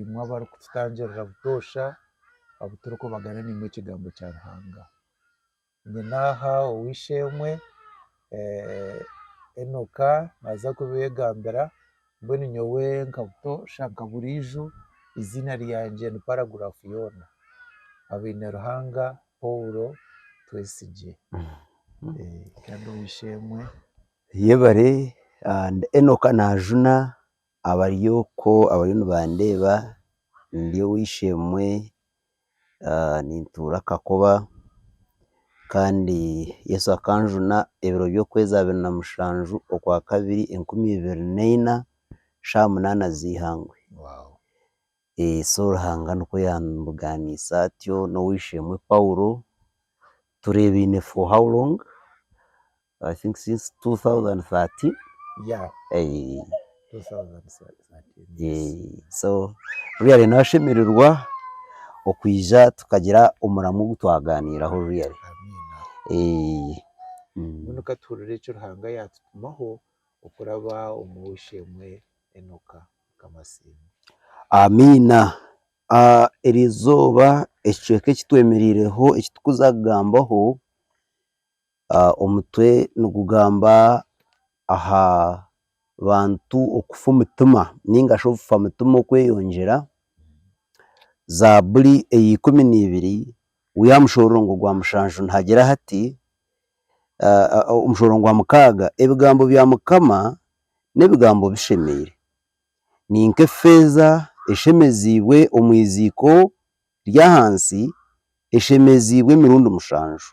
imwe abarikututangirira butoosha abu turikubagana naimwe ekigambo kya Ruhanga. Nyine aha ow'eishe-emwe Enoka naaza kubeegambira mbwenu nyowe nka butoosha nka buriijo eiziina ryangye ni Paragraph Yoona. Habaine-ruhanga Paul Twesigye. Kandi ow'eishe-emwe. Yebare, Enoka naajuna Abari okwo abariyo nibandeeba ndi ow'eishe-emwe nintuura Kakoba kandi Yesu akanjuna ebiro by'okwezi abiri na mushanju okwakabiri enkumi ibiri na ina shaaha munaana z'eihangwe. so Ruhanga nikwo yaamubuganisa atyo n'ow'eishe-emwe Paulo, tureebaine for how long? I think since two thousand thirteen, so really naashemererwa okwija tukagira omuramu ogu twagaaniiraho really. Enoka Kamasinga. Amiina. Eri izooba ekicweka eki twemereireho eki turikuza kugambaho, omutwe nigugamba aha bantu okufa omutima nainga shi obufa mutima okweyongyera, zaaburi eya ikumi na ibiri, waayeshoroora omutwe gwa mushanju nihagira hati, Omushoro gwa mukaaga, Ebigambo bya Mukama n'ebigambo bishemeire, ni nk'efeeza eshemeziibwe omu iziiko ry'ahansi, eshemeziibwe emirundi mushanju.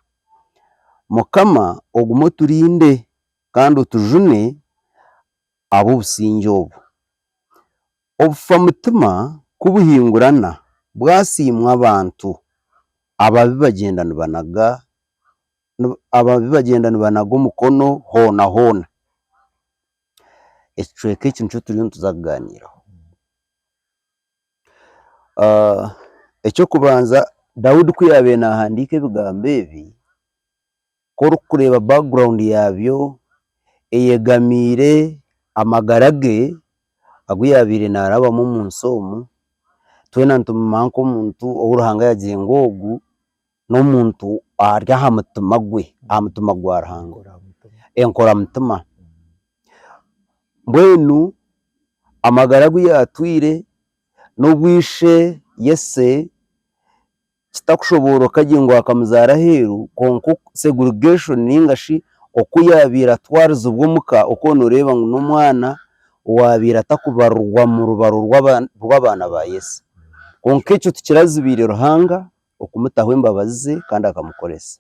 Mukama ogume oturinde kandi otujune ahabw'obusingye obwo. Obufamutima ku buhingurana bwasiimwa abantu, ababi bagyenda nibanaga ababi bagyenda nibanaga omukono hoona hoona. Ekicweka eki nikyo turiyo nituza kugaaniiraho. Eky'okubanza Daudi ku yaabaire naahandiika ebigambo ebi, ku orikureeba background yaabyo eyegamiire amagara ge agu yaabaire naarabamu omu nsi omu, twena nituguuma nk'omuntu ou Ruhanga yaagire ngu ogu n'omuntu ari aha mutima gwe, aha mutima gwa Ruhanga, enkoramutima, mbwenu amagara agu yaatwire n'obu ishe kitakushobooroka gye ngu akamuzaara aheeru, kwonka segregation ninga shi oku yaabaire atwarizibwa omuka, okwo nooreeba ngu n'omwana owaabaire atakubarirwa mu rubaro rw'abaana ba Yese. Kwonka ekyo tikirazibiire Ruhanga okumutaho embabazi ze kandi akamukoresa.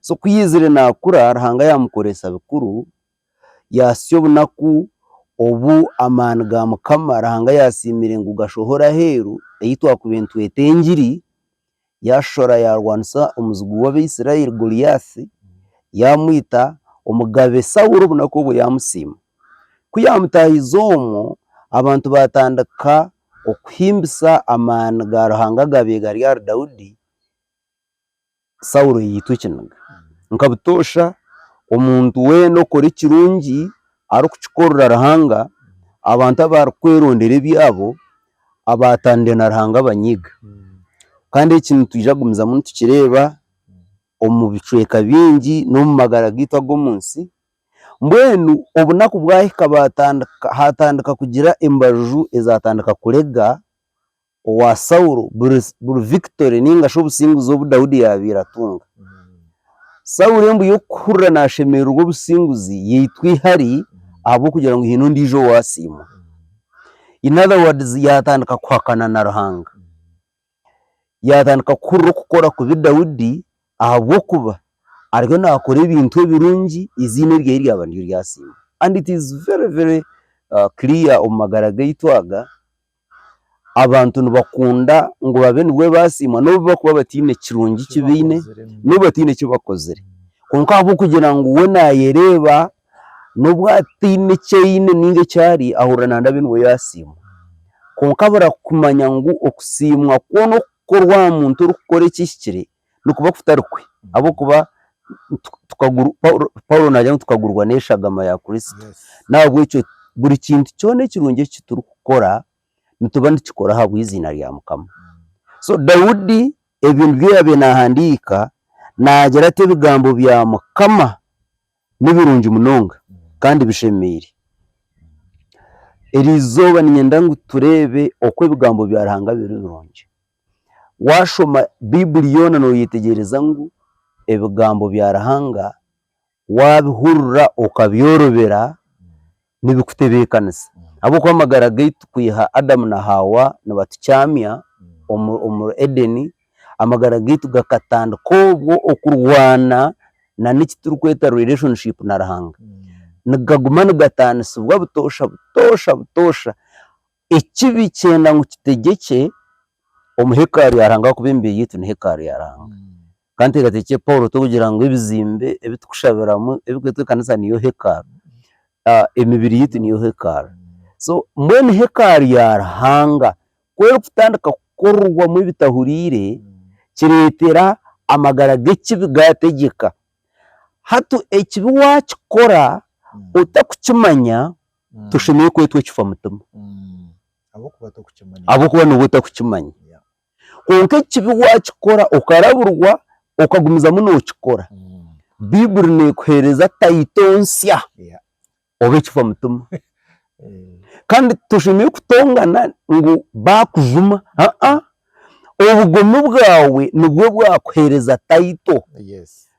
So ku yaizire naakura, Ruhanga yaamukoresa bikuru Yaasya obunaku obu amaani ga Mukama Ruhanga yaatsiimire ngu gashohore aheeru, ei twakubire nitweta engiri, yaashora yaarwanisa omuzigu w'Abaisraeli Goliathi, yaamwita Omugabe Saulo obunaku obwo yaamusiima. Ku yaamutaahize omwo, abantu baatandika okuhimbisa amaani ga Ruhanga agaabaire gari ahari Daudi. Saulo yaitwa ekiniga. Nka butoosha, omuntu weena okora ekirungi arikukikorera Ruhanga, abantu abarikwerondera ebyabo, abaatandire na Ruhanga abanyiiga. Kandi eki nitwija kugumizamu nitukireeba omu bicweka bingi n'omu magara gaitu ag'omu nsi. Mbwenu obunaku bwahika baatandika, haatandika kugira embaju ezaatandika kurega owa Saulo, buri buri victory ninga shi obusinguzi obu Daudi yabire atunga. Saulo embu yokuhurira nashemererwa obusinguzi yaitwa ihari ahabwokugira ngu hine ondijo owasiimwa. In other words yatandika kuhakana na Ruhanga. Yatandika kuhurira okukora kubi Daudi ahabwokuba ariyo nakora ebintu ebirungi iziina erye ryaba niryo ryasiimwa. And it is very very clear omu magara gaitu aga. abantu nibakunda ngu babe nibwo basiimwa n'obu bakuba bataine kirungi ki baine, n'obu bataine ki bakozire. Kwonka ahabw'okugira ngu we naayereeba, n'obu ataine ki aine nainga eki ari, ahurira naande abe nibwo yaasiimwa. Kwonka bura kumanya ngu okusiimwa kwo n'okukorwa aha muntu orikukora ekihikire, Nikuba kutari kwe, ahabw'okuba Paulo naagira ngu tukagurwa n'eshagama ya Kristo. N'ahabw'ekyo buri kintu kyona ekirungi eki turikukora, nituba nitukikora ahabw'eiziina rya Mukama. So Daudi ebyo nibyo yaabaire naahandiika, naagira ati, Ebigambo bya Mukama nibirungi munonga kandi bishemeire. Eri izooba niinyenda ngu tureebe oku ebigambo bya Ruhanga biri birungi. Waashoma Baibuli yoona nooyetegyereza ngu ebigambo bya Ruhanga waabihurira okabyorobera nibikutebeekanisa. Ahabw'okuba amagara gaitu kwiha Adamu na Haawa nibatukyamya omu Edeni, amagara gaitu gakatandika obwo okurwana nana eki turikweta relationship na Ruhanga. Nigaguma nigatanisibwa butoosha butoosha butoosha. Ekibi kyenda ngu kitegyekye omu hekalu ya Ruhanga ahakuba emibiri yaitu ni hekalu ya Ruhanga. Ka nteekateekye Paulo turikugira ngu ebizimbe ebi turikushabiramu ebirikureetwa ekanisa niyo hekalu. Emibiri yaitu niyo hekalu. So mbwenu hekalu ya Ruhanga ku erikutandika kukorerwamu ebitahuriire, kireetera amagara g'ekibi gaategyeka. Hati ekibi waakikora otarikukimanya, Mm. toshemereire kwetwa ekifamutima Mm. Ahabw'okuba tokukimanya. ahabw'okuba nooba otakukimanya. Yeah. Kwonka ekibi waakikora okarabirwa, okagumizamu nookikora, Mm. Baiburi neekuheereza tayito nsya, Yeah. obe ekifamutima. Eh, Kandi toshemereire kutongana ngu baakujuma, aa, obugomi bwawe nibwo bwakuheereza tayito. Yes.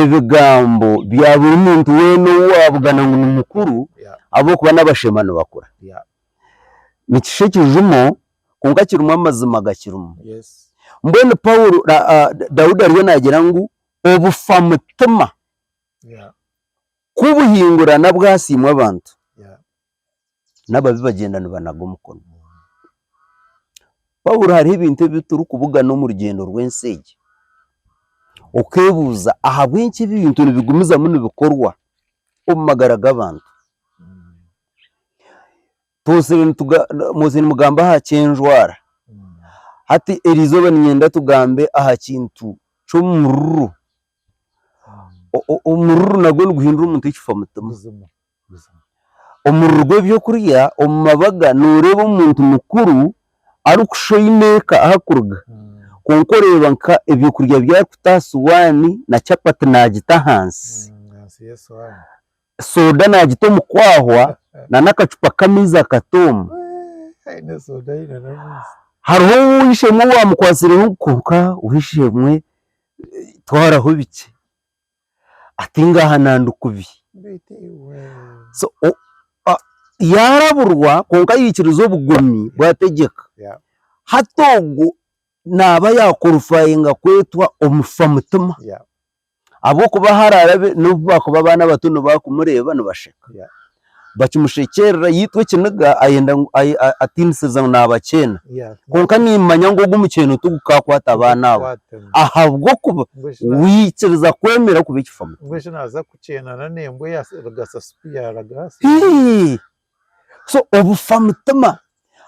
Ebigambo bya buri muntu weena ou waabugana ngu ni mukuru ahabw'okuba n'abashema nibakura, nikishushya ekijumo kwonka kirimu amazima gakirimu. Mbwenu Paulo, Daudi ariyo naagira ngu obufa mutima ku buhingurana bwasiimwa abantu, n'ababi bagyenda nibanaga omukono. Pawuro hariho ebintu ebi turikubugana omu rugyendo rw'ensi egi, okeebuuza ahabw'enki ebi bintu nibigumizamu nibikorwa omu magara g'abantu? Mwozire nimugamba aha ky'enjwara, hati eri izooba niinyenda tugambe aha kintu ky'omururu, omururu nagwo niguhindura omuntu ekifa mutima. Omuriri gw'eby'okurya omu mabaga nooreeba omuntu mukuru arikushusha oine eka ahu arikuruga kwonka oreeba nka eby'okurya bi arikuta aha suwaani na chapati naagita ahansi, sooda naagita omu kwahwa na n'akacupa k'amaizi akatoomu. Hariho ow'eishe-emwe owaamukwasireho ngu konka ow'eishe-emwe twaraho bikye. ati ngahana ndi kubi yaaraburwa kwonka yaikiriza obugomi bwategyeka hati ogwo naaba yaakworifayinga kwetwa omufa mutima ahabw'okuba haraarabe n'obu baakuba abaana bato nibakumureeba nibasheka. bakimushekyerera yaitwa ekiniga ayenda ngu ay- a- atiinisiza ngu naabakyena Yeah. kwonka niimanya ngu ogu omukyeno tigukakwata abaana abo Kwatana. ahabw'okuba Mbwenu shi na- waikiriza kwemera kuba ekifa mutima mbwenu shi naaza kukyenana n'embwa eyaarigasa sipi yaaraga hasi Hii! so obufa mutima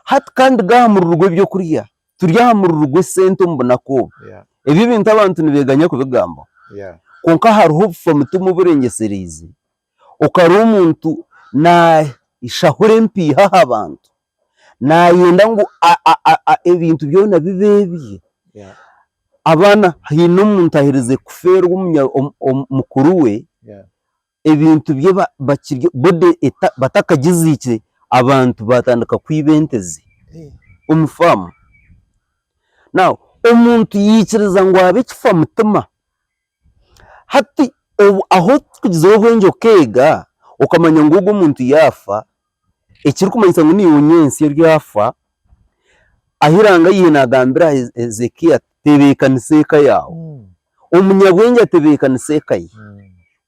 hati kandi ga aha mururu gw'eby'okurya turi aha mururu gw'esente omu bunaku obu Yeah, ebi ebintu abantu nibeeganya kubigambaho yeah. kwonka hariho obufa mutima oburengyesereize Okare omuntu naashahura empiiha aha bantu, naayenda ngu ebintu byona bibe ebye, abaana haine omuntu aherize kufeerwa mukuru we, ebintu bye bakirye boda batakagiziikire, abantu baatandika kwiba ente ze omu faamu, omuntu yaikiriza ngu abe ekifa mutima. Hati ahu orikugizire obwengye okeega okamanya ngu ogwo omuntu yaafa, ekirikumanyisa ngu niiwe onyaitse oryafa, ahu eiranga ryaitu naagambira Hezekia ati tebeekanisa eka yaawe, omunyabwengye atebeekanisa eka ye,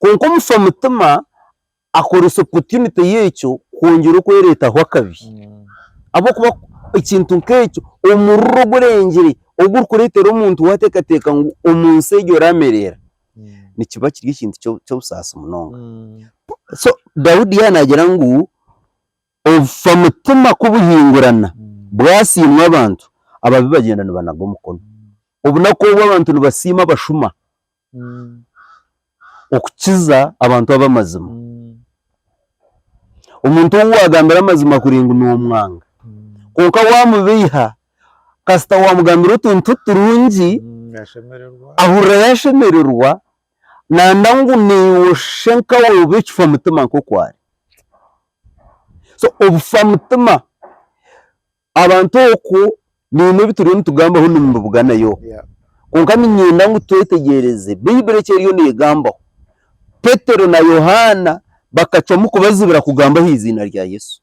kwonka omufa mutima Akooresa opotiunite y'ekyo kwongyera okwereetaho akabi. Ahabw'okuba ekintu nk'ekyo, omuriro ogurengire ogurikureetera omuntu waateekateeka ngu omu nsi egi oraamereera, nikiba kiri ekintu ky'obusaasi munonga. So Daudi yaaba naagira ngu obufa mutima ku buhingurana bwasiimwa abantu, ababi bagyenda nibanaga omukono. Obunaku obu abantu nibasiima abashuma. okukiza abantu ab'amazima. Omuntu ou waagambira amazima kuri ngu noomwanga, kwonka waamubeiha kasita waamugambira otuntu turungi, ahurira yaashemererwa naayenda ngu naiwe oshe nkawe obe ekifa mutima nk'oku ari. So obufa mutima. Abantu okwo nainwe ebi turiyo nitugambaho nimubibuga nayo. Kwonka niinyenda ngu twetegyereze Baibuli eki eriyo neegambaho. Petero na Yohaana bakacwamu kubazibira kugamba aha iziina rya Yesu.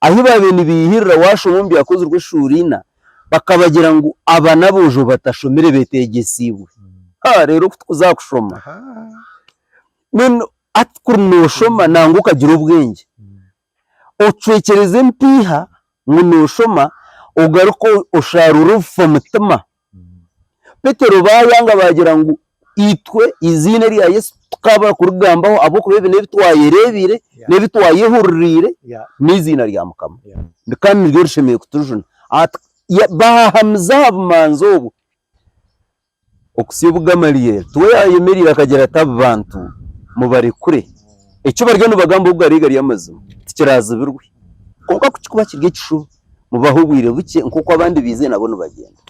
Ahi baabaire nibeihirira waashoma omu Byakozirwe eshuura ina, bakabagira ngu aba n'aboojo batashomire beeteegyesiibwe. Ha, reero ku tukuza aha kushoma! Mbwenu hati kuri nooshoma nangwa okagira obwengye, Ocwekyereze empiiha ngu nooshoma ogaruke osharuure obufa mutima. Petero baayanga baagira ngu itwe eiziina erya Yesu tukaabura kurigambaho ahabw'okuba ebi n'ebi twayereebeire, n'ebi twayehuririire n'eiziina rya Mukama. Kandi niryo rishemereire kutujuna. Baahahamize aha bumanzi obwo. Okutsya obu Gamalieli, tiwe yaayemereire akagira ati, Aba bantu mubarekure. Eki bariyo nibagamba obu gari gari amazima, tikiraazibirwe. Kwonka ku kirikuba kiri ekishuba, mubahe obwire bukye nk'oku abandi baizire nabo nibagenda.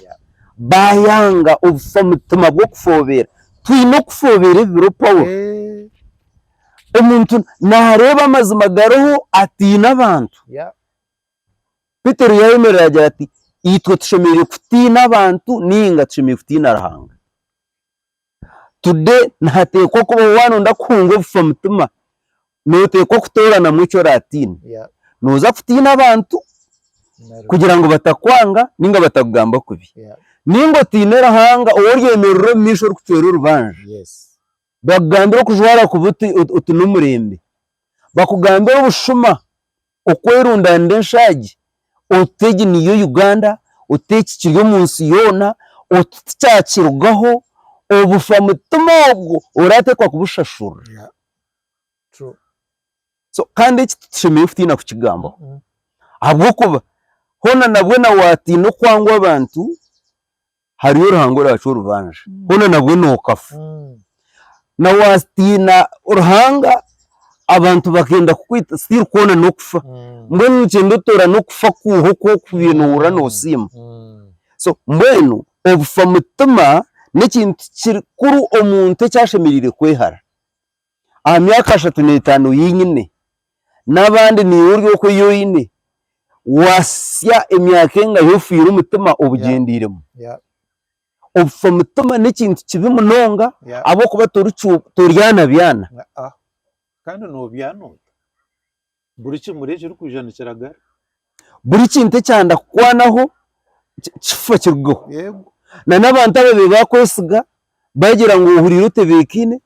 Baayanga obufa mutima bw'okufoobeera. Twine okufoobeera ebi biro Paulo. Omuntu naareeba amazima gariho ataine abantu. Petero yayemerera agira ati itwe tushemereire kutiina abantu ninga tushemereire kutiina Ruhanga. Today nihateekwa kubaho waaba noyenda kuhunga obufa mutima, noteekwa kutooranamu eki oratiine. Yeah. Noza kutiina abantu kugira ngu batakwanga ninga batakugamba kubi. Yeah. Ninga otiine Ruhanga ou oryemerera omu maisho orikucwera orubanja. Yes. Bakugambire okujwara kubi oti oti n'omurembe, bakugambire obushuma okwerundanira enshaagi oti egi niyo Uganda, oti eki kiri omu nsi yoona, oti tikyakirugaho, obufa mutima ogwo orateekwa kubushashurira. So kandi eki titushemereire kutiina kukigambaho ahabw'okuba hoona nabwo na waatiina okwangwa abantu hariyo Ruhanga oraacu orubanja hoona nabwo nookafa na waatiina Ruhanga abantu bakenda kukwita still kwona n'okufa mbwenu noogyenda otoorane okufa kw'oha oku okubiire noohurira noosiima so mbwenu obufa mutima n'ekintu kikuru omuntu eki ashemereire kwehara. aha myaka ashatu n'etaano oyi nyine n'abandi niiwe ori oku ei oine, waasya emyaka engahi ofiire omutima obugyendeiremu? Yeah. Obufa omutima n'ekintu kibi munonga Yeah. ahabw'okuba torikyu- toryana byana. Ah, ah. Kandi noobyana ota? Buri kimuri ekirikwija nikiragara. Buri kintu ekyanda kukwanaho kifa kirugeho. Yego. Na n'abantu ababi bakwesiga bagira ngu ohuriire otebekaine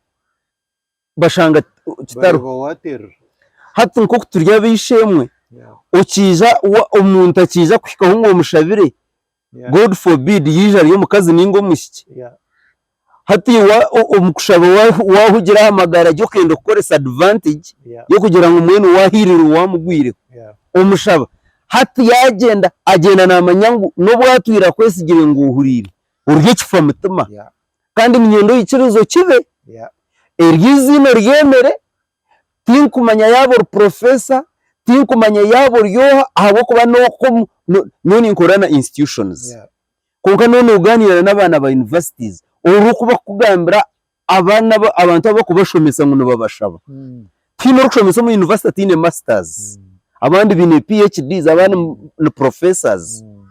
bashanga kitariho. Bareeba waterera. Hati nk'oku turi ab'eishe-emwe, okiija wa omuntu akiija kuhikaho ngu omushabire God forbid yaija ari omukazi ninga omwishiki, hati iwe omu kushaba wahugira aha magara ge okenda kukoresa advantage y'okugira ngu mbwenu wahirirwa owamugwireho omushaba. Hati yagyenda, agyenda namanya ngu n'obu atwire akwesigire ngu ohuriire, ori ekifa mutima. Kandi niinyenda oikirize okibe, eryo eiziina oryemere, Tinkumanya yaaba ori professor, tinkumanya yaaba ori oha ahabw'okuba n'oku omu, no- nyowe ninkorera na institutions. Yeah. Kwonka n'obu nogaaniira n'abaana ba universities, oru oku bakukugambira abaana abu abantu abu bakubashomesa ngu nibabashaba. Mm. Tihiine orikushomesa omu university ataine masters, Mm. abandi baine PHDs, abandi ni- ni professors. Mm.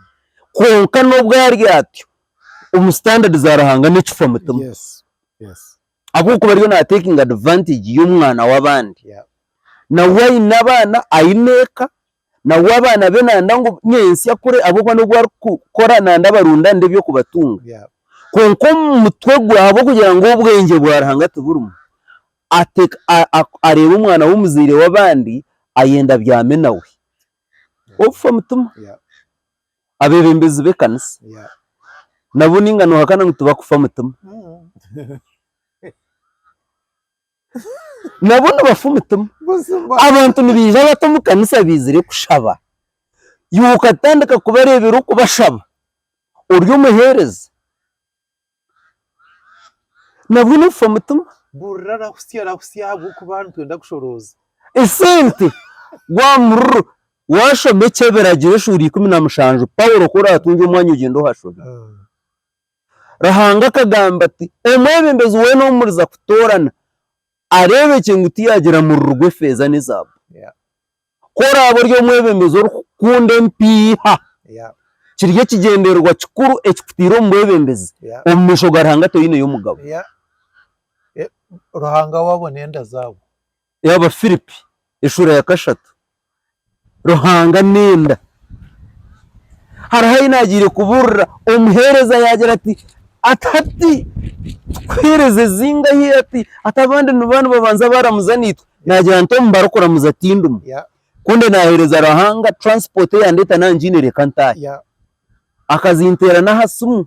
Kwonka n'obu ari atyo, omu standard za Ruhanga n'ekifa mutima. Yes. Yes. ahabw'okuba ariyo naatekinga advantage y'omwana w'abandi. Yeah. Nawe aine abaana, aine eka, nawe abaana be nanda ngu nyentsya akure ahabw'okuba n'obu arikukora nanda abarunde ande eby'okubatunga. Yeah. Kwonka omu mutwe gwe ahabw'okugira ngu obwengye bwa Ruhanga tiburimu, ateeka a- a- areeba omwana w'omuzaire w'abandi ayenda abyame nawe. Ofa mutima. Yeah. abebembezi bekanisa nabo ninga nohakana ngu tibakufa mutima nabo nibafa omutima abantu nibaija bata omukanisa baizire kushaba iwe okatandika kubarebera okubashaba ori omuhereza. nabwo nofa omutima. Burira arahusya arahusya ahabw'okuba nitwenda kushorooza. Esente gwamurro washoma ekyebiragiro eshuuri ikumi na mushanju Paulo ku oratunga omwanya ogyende ohashome. Ruhanga akagamba ati omwebembezi weena ou muriza kutoorana areebekye ngu tiyagira muriro gw'efeeza n'ezaabu. Ku oraabe ori omwebembezi orikukunda empiiha, kiri ekigyendererwa kikuru ekikutaire omu bwebembezi. Omu maisho ga Ruhanga toineyo mugabo. Abafiripi eshuura ya kashatu. Ruhanga n'enda. Hariho ahi naagiire kubuurira omuheereza yaagira ati, Ati hati tukuheereze zingahi? Ati hati abandi nibabaanza baaramuza naitwe. Naagira nti omu barikuramuza tindimu, ku ndi naaheereza Ruhanga, transport eyandeeta naaba ngiine reka ntaahe. Akazinteera n'aha simu.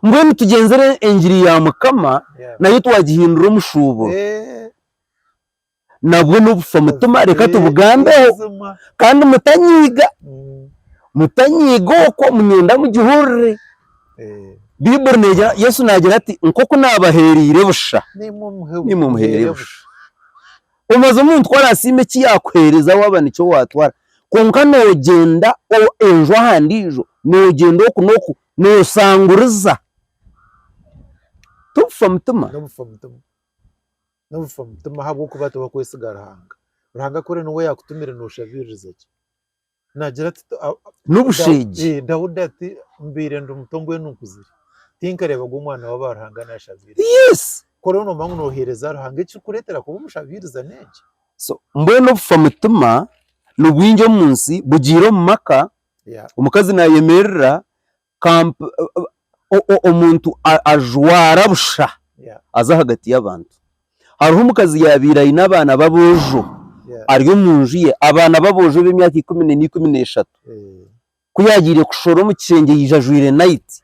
Mbwenu tugyenzire engiri ya Mukama nayo twagihindura omushuuburo. Nabwo n'obufa mutima reka tubugambeho. Kandi mutanyiiga, mutanyiiga okwo, niinyenda mugihurire. Baiburi negira, Yesu naagira ati, Nk'oku naabaheereire busha, naimwe muheere busha. Omubaze omuntu ku araasiime eki yaakuheereza waaba nikyo waatwara. Kwonka noogyenda enju aha ndiijo, noogyenda oku n'oku, noosanguriza. Tobufa mutima. Nobufa mutima. Nobufa mutima ahabw'okuba tibakwesiga Ruhanga. Ruhanga ku ori niwe yaakutumire nooshabiiriza ki? Naagira ati "Tu- a- a- N'obusheegi. Daudi- eh, Daudi ati mbaire ndi muto mbwenu nkuzire tinkareebaga omwana w'aba Ruhanga naashabiiriza Yes! ku oriyo noomanya ngu nooheereza Ruhanga ekirikukureetera kuba omushabiiriza n'enki So, mbwenu obufa mutima nibwingi omu nsi, bugiire omu maka, Yeah. omukazi naayemerera Kamp omuntu ajwara busha aza ahagati y'abantu. Hariho omukazi yaabaire aine abaana b'aboojo ari omu nju ye, abaana b'aboojo ab'emyaka ikumi neina ikumi n'eshatu. Ku yaagiire kushora omu kishengye yaija ajwaire nayiti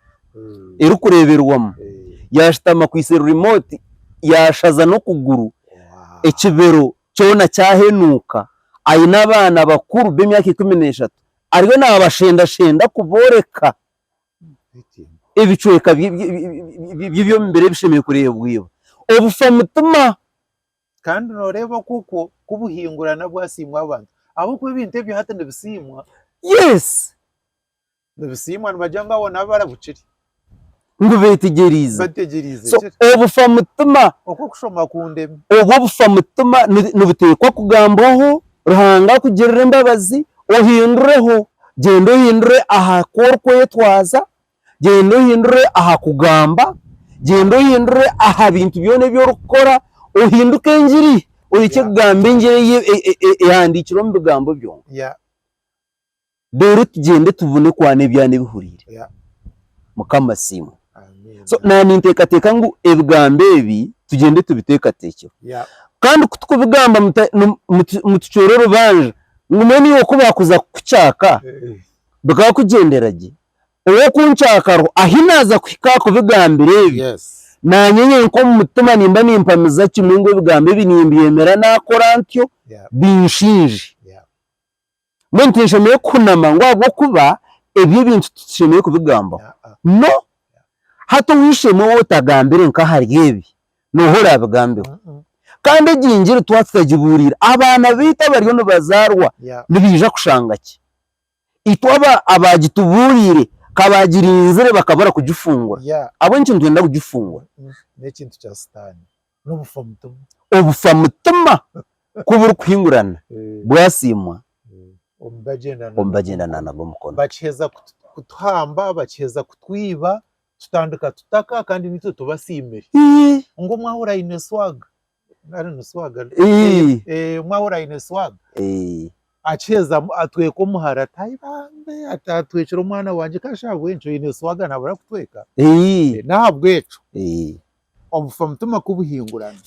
erikureeberwamu, yaashutama akwaitse rimooti yaashaza n'okuguru, ekibero kyona kyahenuuka. Aine abaana bakuru b'emyaka ikumi n'eshatu. Ariyo naabashendashenda kubooreka ebicweka by'eby'omubiri ebishemereire kureebwa. Obufa mutima. Kandi nooreeba okwo kwo ku buhingura nabwo asiimwa abantu. Ahabw'okuba ebintu ebyo hati nibisiimwa. Yes. Nibisiimwa nibagira ngu abo nabo barabukire. ngu beetegyereize. So obufa mutima obwo obufa mutima nibuteekwa kugambwaho, Ruhanga akugirire embabazi ohindureho. Gyenda ohindure aha ku orikwetwaza, gyenda ohindure aha kugamba, gyenda ohindure aha bintu byona ebi orikukora, ohinduke engiri orekye kugamba engiri eyi ehandiikirwe omu bigambo byonka. reero tugyende tubone ku haine ebyana ebihuriire. Mukama asiimwe. So naaba ninteekateeka ngu ebigambo ebi tugyende tubiteekateekyeho. Kandi ku turikubigamba mutucwera orubanja ngu mbwenu iwe ku baakuza kukucaaka bikaba kugyendera gye? Ow'okuncaakaho ahi naaza kuhika aha kubigambira ebi, naanye nyenka omu mutima nimba nimpamiza kimwe ngu ebigambo ebi nimbyemera naakora ntyo binshiinje. Mbwenu tinshemereire kuhunama ngu ahabw'okuba ebi ebintu titushemereire kubigambaho. No! Hati ow'eishe-emwe ou otagambire nk'ahari ebi, nooha oraabigambeho? Kandi egi Njiri twaba tutagibuuriire, abaana baitu abariyo nibazaarwa nibaija kushanga ki? Itwe abo abaagitubuuriire ka baagirinzire bakabura kugifungura. Ahabw'enki nitwenda kugifungura? N'obufa mutima. Obufa mutima ku burikuhingurana, bwasiimwa omu bagyenda na nabwo omukono. Bakiheza kutuhamba, bakiheza kutwiba, tutandika tutaka kandi nitwe tubasiimire. Ngu omwe ahura aine swag, nari ni swag? Omwe ahura aine swag, akiheza atweka omuhara ati ayi bambe ati atwekire omwana wangye, ka shi ahabw'enki oine swag naabura kutweka? N'ahabw'ekyo obufa mutima ku buhingurana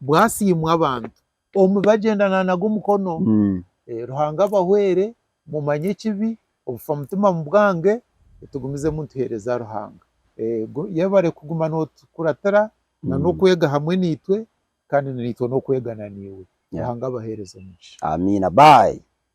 bwasiimwa abantu omu bagyendana nago omukono mm. Eh, Ruhanga abahwere mumanye ekibi obufa mutima mu bwange tugumizemu nituheereza Ruhanga Eh, gu- yebare kuguma notukuratira na Mm. n'okwega hamwe naitwe kandi naitwe n'okwegana naiwe Yeah. Ruhanga abaheereze omugisha amiina bayi